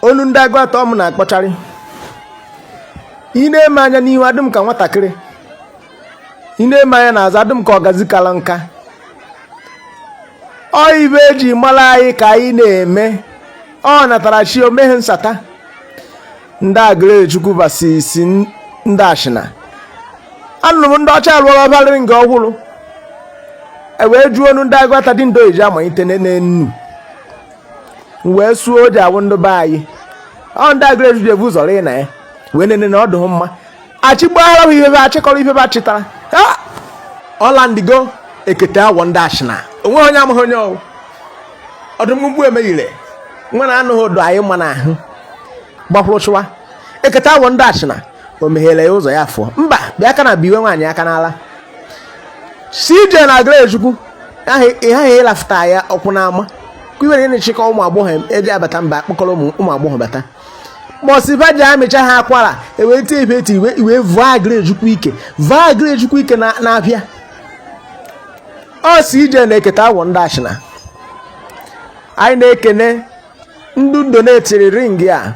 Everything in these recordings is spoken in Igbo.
onu ndị Aguata ọ mụ na-akpọcharị i nee m anya n'ihu adị m ka nwatakịrị i nee m anya n'azụ adị m ka ọgazi kala nka ọ ive eji mara anyị ka anyị na-eme ọ natara chi omeghe nsata ndị Agụlụezechukwu vs ndị Achịna anụrụ m ndị ọcha alụọrọ anyị ring ọhụrụ e wee jụọ onu ndị Aguata dị ndo eji amalite n'enu wee suo ọjị awụ ndị be anyị ọ ndị Agụlụezechukwu ji ebu ụzọ rịị na ya wee nene na ọ dụghị mma achịgbaghara ihe be achịkọrọ ihe be achịtara ọlandigo ekete awọ ndị Achịna onwe onye amaghị onye ọwụ ọdụmgbu emeghire nwa na anụghị ụdọ anyị mma n'ahụ gbakwụrụ chụwa ekete awọ ndị Achịna o meghere ya ụzọ ya fụọ mba bịa aka na biwe nwaanyị aka n'ala CJ na Agụlụezechukwu ị ghaghị ịlafụta ya ọkwụ n'ama kwiwere na-echekọ ụmụ agbọghọ eji abata mgba akpọkọrọ ụmụ agbọghọ bata mọsiva ji amịcha ha akwara ewee tie ibe eti iwe iwe vụọ Agụlụezechukwu ike vụọ Agụlụezechukwu ike na na-abịa ọ CJ na eketa awọ ndị Achịna anyị na-ekene ndị donatiri ring a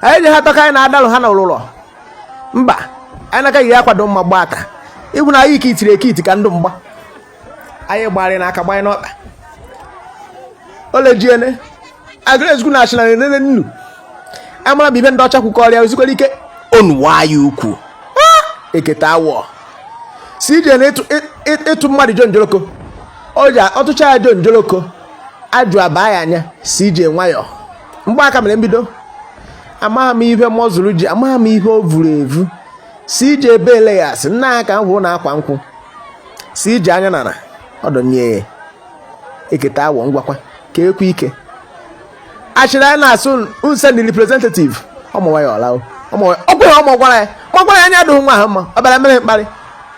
anyị ji ha tọka anyị na-adalụ ha na ụlụlọ mba anyị na-akaghị ya akwado mma gba aka ịbụ na anyị ka itiri eke iti ka ndị mgba anyị gbarị n'aka gbanye n'ọkpa olejiene Agụlụezechukwu na Achịna na-enene nnu amara bụ ive ndị ọcha kwukọrịa ozikwere ike onuwa ya ukwu eketa awọ CJ na ịtụ mmadụ jo njoroko ọtụcha ya jo njoroko ajụ abaa ya anya CJ nwayọọ mgbe aka mere mbido amaghị m ihe mọzụrụ ji amaghị m ihe o vuru evu CJ Beleyas nna ya ka m hụrụ na akwa nkwụ CJ anya nara ọdọnye eketa awọ ngwakwa ka ekwe ike achịrị anyị na-asụ nse ndị representative ọmụwa ya ọla ọgwụ ya ọmụ gwara ya ma gwara ya anya dụghị nwa ahụ mma ọ bịara mere mkparị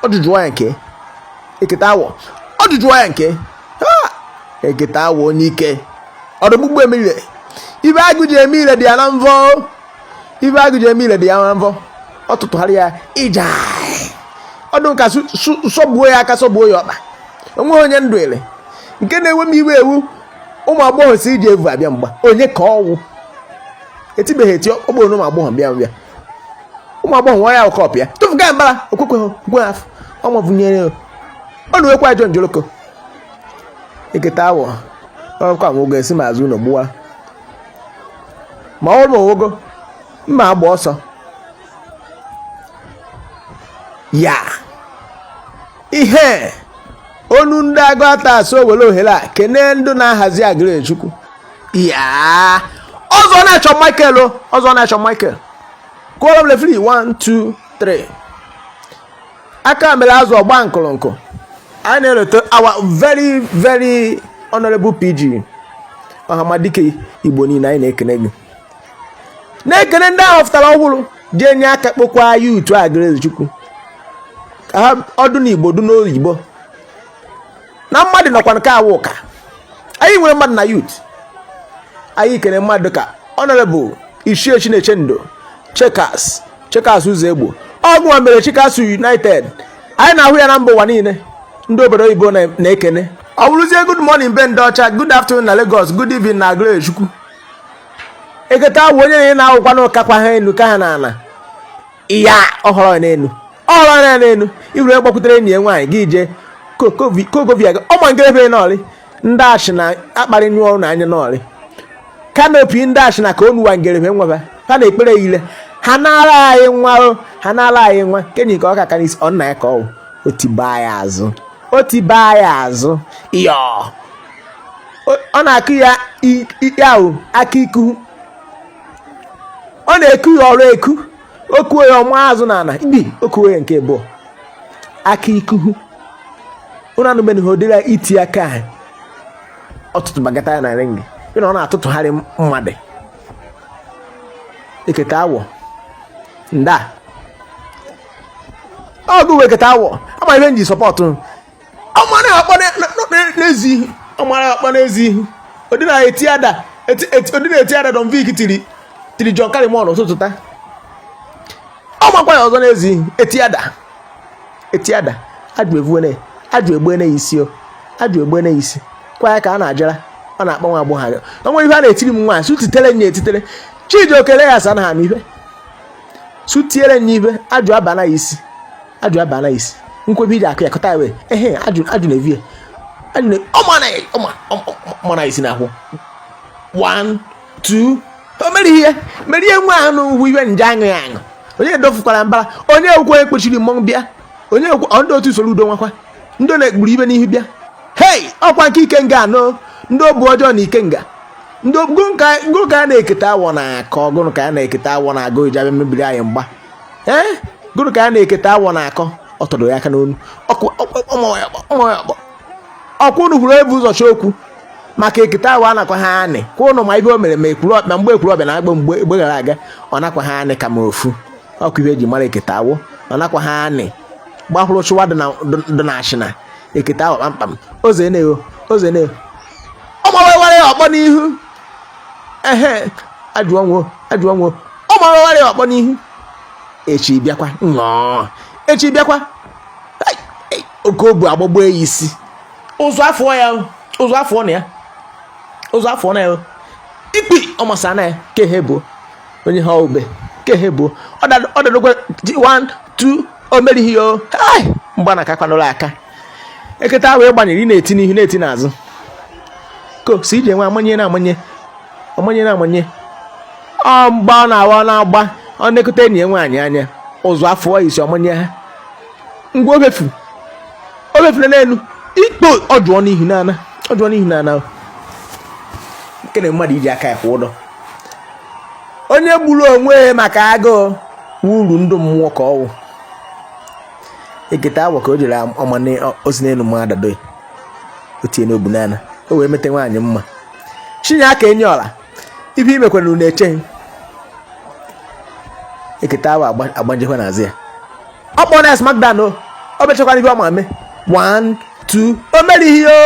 ọ jụjụọ ya nke eketa awọ ọ jụjụọ ya nke eketa awọ onye ike ọdụgbugbu emire ive agụ ji eme ire dị ya na mvọ ive agụ ji eme ile dị ya na mvọ ọ tụtụgharị ya ija ọdụ nka sọgbuo ya aka sọgbuo ya ọkpa onweghị onye ndụ ele nke na-enwe m iwe ewu ụmụ agbọghọ CJ evu abịa mgba onye ka ọwụ etibeghị eti ọkpọrọ ụmụ agbọghọ bịa bịa ụmụ agbọghọ nwa ya ụkọp ya tụfụga mbara okwekwe gwe afọ ọnwa vụnyere ọ na ekwe ajọ njoloko eketa awọ ọkwa nwogo esi ma azụ ụlọ gbuwa ma ọ mụwogo mma agba ọsọ ya ihe onu ndị Aguata so were ohere a kene ndị na-ahazi Agụlechukwu ya ọzọ na-achọ michael o ọzọ na-achọ michael kụọrọ m refri 1 2 3 aka mere azụ ọgba nkụrụnkụ anyị na-elote our very very honorable pg ọhamadike igbo niile anyị na-ekene gị na-ekene ndị ahụ fụtara ọhụrụ ji enye aka kpọkwaa youth Agụlechukwu ka ha ọ dụ n'igbo dụ n'oyibo na mmadụ nọkwa nke awụ ụka anyị nwere mmadụ na youth anyị kene mmadụ ka honorable ichie Chinechendo chekas chekas ụzọ egbo ọgwụnwa mere chekas united anyị na-ahụ ya na mba ụwa niile ndị obodo oyibo na-ekene ọ bụrụzie good morning be ndị ọcha good afternoon na Lagos good evening na Agụlechukwu eketa awụ onye na-enye na-awụkwa na ụkakwa ha enu ka ha na ana ya ọhọrọ n'elu ọ lara ya n'elu iwere gbakwutere enyi ya nwaanyị gị jee kogovia gị ọma nke ebe n'ọlị ndị achị na akparị nyụọ ọrụ na anya n'ọlị kanopi ndị achị na ka onuwa ngerebe nwebe ha na-ekpere ile ha na-ara anyị nwa ha na-ara anyị nwa kenyi ka ọ ka karịsị ọ nna ya ka ọ otiba ya azụ otiba ya azụ yọ ọ na-akụ ya ikpe ahụ aka iku ọ na-eku ya ọrụ eku okuwe ya ọma azụ na ana ibi okuwe ya nke bụ aka ikuhu ụnụ anụbeghị ha odịra iti aka anyị ọtụtụ bagata ya na ring ịna ọ na-atụtụgharị mmadụ eketa awọ nda ọgụ weketa awọ ama ihe m ji sọpọtụ ọmara akpa n'ezi ihu ọmara akpa n'ezi ihu odina eti ada odina eti ada Don Vic tiri tiri John Kalimon ụtụtụ taa ọ makwa ya ọzọ n'ezi ihu eti ada eti ada ajụ evuene ajụ egbuene ya isi o ajụ egbuene ya isi kwa ya ka a na-ajara ọ na-akpa nwa agbọghọ anya o nwere ihe a na-etiri m nwaanyị sutitere nye etitere chidi okele ya sa na ha n'ibe sutiere nye ibe ajụ abana ya isi ajụ abana isi nkwebi ide akụ ya kọta ewe ehe ajụ ajụ na evie ajụ na ọma na ọma ọma na isi na ahụ one two o mere ihe mere ihe nwa ahụ n'ugwu iwe nje aṅụ ya aṅụ onye edofukwara mbara onye ekwe ekpochiri mmọnwụ bịa onye ekwe ndị otu usoro udo nwakwa ndị na-ekpuru ibe n'ihu bịa hei ọkwa nke ike nga anọ ndị obu ọjọọ na ike nga ndị gụrụ ka a na-eketa awọ na akọ gụrụ ka a na-eketa awọ na agụ iji abịa mebiri anyị mgba ee gụrụ ka a na ekete awọ na akọ ọ tọdoro ya aka n'onu ọkwa unu hụrụ o bu ụzọ chọ okwu maka ekete awọ anakwa ha anị kwa ụnụ ma ibe o mere ma ekwuru ma mgbe Ekwulobia na-agba mgba mgbe gara aga ọ nakwa ha anị ka ma ofu ọkụ ibe eji mara ekete awọ ọ nakwa ha anị gbahụrụ chụwa dị na Achina ekete awọ kpamkpam oze na-ewo oze na-ewo ọ gbawawara ya ọkpọ n'ihu ehe ajọ nwa ajọ nwa ọ mara ọgharị ọkpọ n'ihu echi bịakwa nnọọ echi bịakwa oke obu agbagbo ya isi ụzọ afọ ya ụzọ afọ na ya ụzọ afọ na ya ikpi ọmasa na ya ka ihe bụ onye ha ube ka ihe bụ ọ dadokwa 1 2 o merighị ya ọ mgba na akakwanụla aka ekete awọ ị gbanyere ị na-eti n'ihu na-eti n'azụ ka o si ije nwe amanye na amanye amanye na amanye ọ mgba ọ na-awa ọ na-agba ọ na-ekute enyi ya nwaanyị anya ụzụ afọ isi ọmanye ha ngwa obefu obefula n'elu ikpo ọdụọ n'ihu n'ana ọdụọ n'ihu n'ana nke na mmadụ iji aka ya kwụ ụdọ onye gburu onwe maka agụụ wuru ndụ mmụọ ka ọ wụ ekete awọ ka o jere ọma osi n'elu mma adado o tinye n'obu n'ala o wee mete nwaanyị mma chinye aka enye ọla ibe imekwana unu echeghị ekete awọ agbajikwa n'azụ ya ọ kpọrọ ya smackdown o o mechakwara ibe ọ ma mee one two o merighị o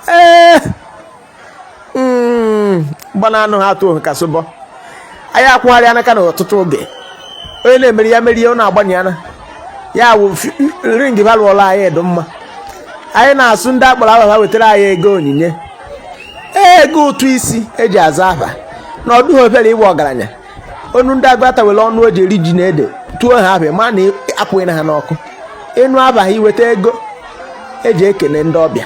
ee hmm, gbana anụ ha atụ ka sobọ anyị akwụgharị anaka na ọtụtụ oge onye na-emeri ya merie ọ na-agbanye ana ya wụ ring ba lụọla anyị edo mma anyị na-asụ ndị a kpọrọ aha ha wetara anyị ego onyinye ego ụtụ isi eji aza afa na ọ dịghị obere ịwụ ọgaranya onu ndị Aguata were ọnụ o ji eri ji na ede tuo ha abịa ma na apụghị na ha n'ọkụ ịnụ abaghị iweta ego eji ekele ndị ọbịa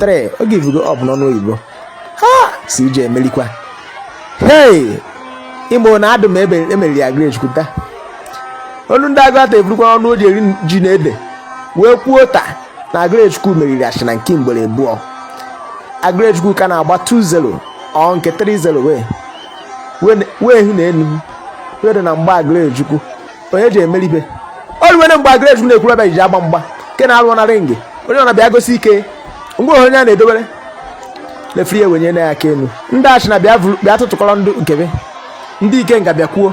3 ọ givugo up n'ọnụ oyibo ha si ije emelikwa hei igbo na adụ m ebe emeriri Aguluezechukwu taa olu ndị Aguata eburukwa ọnụ o ji eri ji na ede wee kwuo taa na Aguluezechukwu meriri Achina nke ugboro abụọ Aguluezechukwu ka na-agba 2-0 ọ nke 3-0 wee wee hụ na enu wee dị na mgba Aguluezechukwu onye ji emeri ibe o ruwere mgbe Aguluezechukwu na Ekwulobia ji agba mgba nke na-alụ na ring onye a na-abịa gosi ike ngwa onye a na-edobere referee ya wenye na ya aka elu ndị Achina bịa tụtụkọrọ ndị nke be ndị Ikenga bịakwuo